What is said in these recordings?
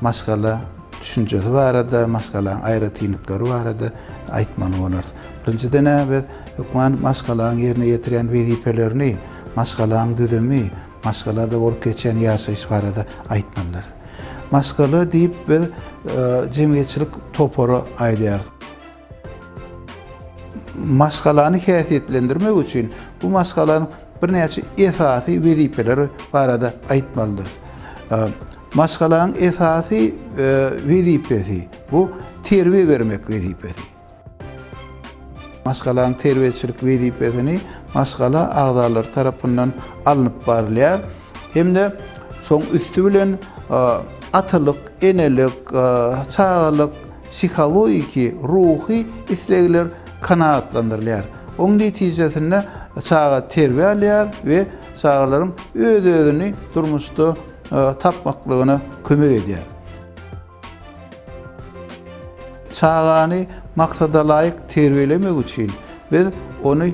Maşgala düşünjesi barada, maşgalaň aýratynlyklary barada aýtmaly bolarys. Birinjiden-ä biz hökman maşgalaň ýerine ýetirýän wezipelerini, maşgalaň düzümi, maşgalada bolup geçýän ýaşaýyş barada aýtmalydyr. Maşgala diýip biz jemgyýetçilik topary aýdýarys. Maşgalany häsiýetlendirmek üçin bu maşgalanyň birnäçe esasy wezipeleri barada aýtmalydyrys. Maşgalanyň esasy e, wezipesi bu terbiýe bermek wezipesi. Maşgalaň terbiýeçilik wezipesini maşgala agzalary tarapyndan alnyp barylýar. Hem-de şoň üsti bilen atalyk, enelik, çagalyk, psihologiki, ruhy islegler kanagatlandyrylýar. Oň netijesinde çaga terbiýe alýar we çagalaryň öz-özüni durmuşda tapmaklygyna kömek edýär. Çagany maksadalaýyk terbiýelemek üçin biz ony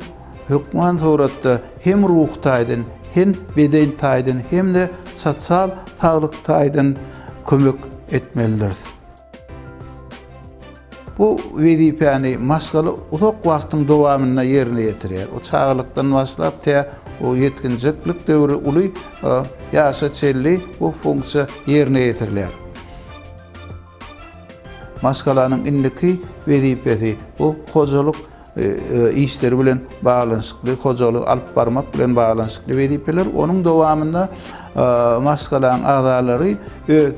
hökman suratda hem ruhy taýdan, hem beden taýdan, hem-de sosial saglyk taýdan kömek etmelidiris. Bu wezipäni maşgala uzak wagtyň dowamynda ýerine ýetirýär. Bu çagalykdan başlap tä ýetginjeklik döwri uly ýaşa çenli bu funksiýa ýerine ýetirilýär. Maşgalanyň indiki wezipesi bu hojalyk işleri bilen baglanyşykly, hojalygy alyp barmak bilen baglanyşykly wezipeler. Onuň dowamynda maşgalaň agzalary öz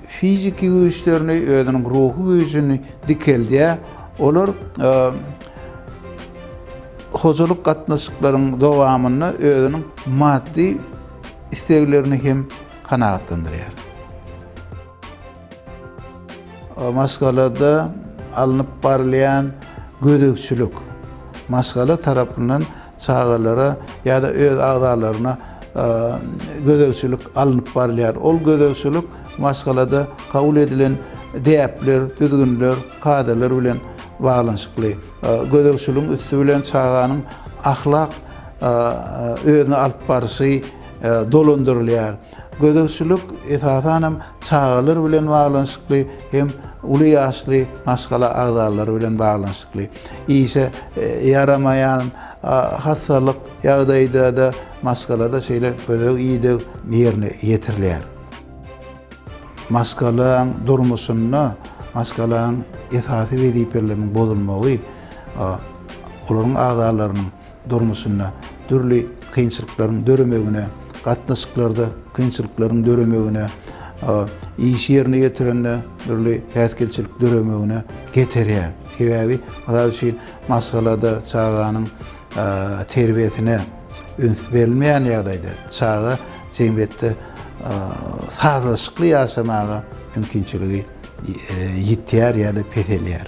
fiziki güýçlerini, özüniň ruhy güýjüni dikeldýär. Olar hojalyk gatnaşyklaryň dowamynda özüniň maddy isleglerini hem kanagatlandyrýar. Maşgalada alnyp barylýan gözegçilik maşgala tarapyndan Çagalara ýa-da öz agzalaryna gözegçilik alnyp barylýar. Ol gözegçilik maşgalada kabul edilen däpler, düzgünler, kadalar bilen baglanyşykly. Gözegçiligiň üsti bilen çaganyň ahlak özüni alyp barşy dolandyrylýar. Gözegçilik, esasanam, çagalar bilen baglanyşykly hem uly ýaşly maşgala agzalary bilen baglanyşykly. Işe ýaramaýan hassalyk ýagdaýda-da maşgalada şeýle gözeg-ideg ýerine ýetirilýär. Maşgalaň durmuşynda maşgalaň esasy wezipeleriniň bozulmagy olaryň agzalarynyň durmuşynda dürli kynçylyklaryň döremegine, gatnaşyklarda kynçylyklaryň döremegine, işi ýerine ýetirende dürli päsgelçilik döremegine getirýär. Sebäbi, mysal üçin, maşgalada çaganyň terbiýesine üns berilmeýän ýagdaýda çaga jemgyýetde sazlaşykly ýaşamaga mümkinçiligi ýitýär ýa-da peselýär.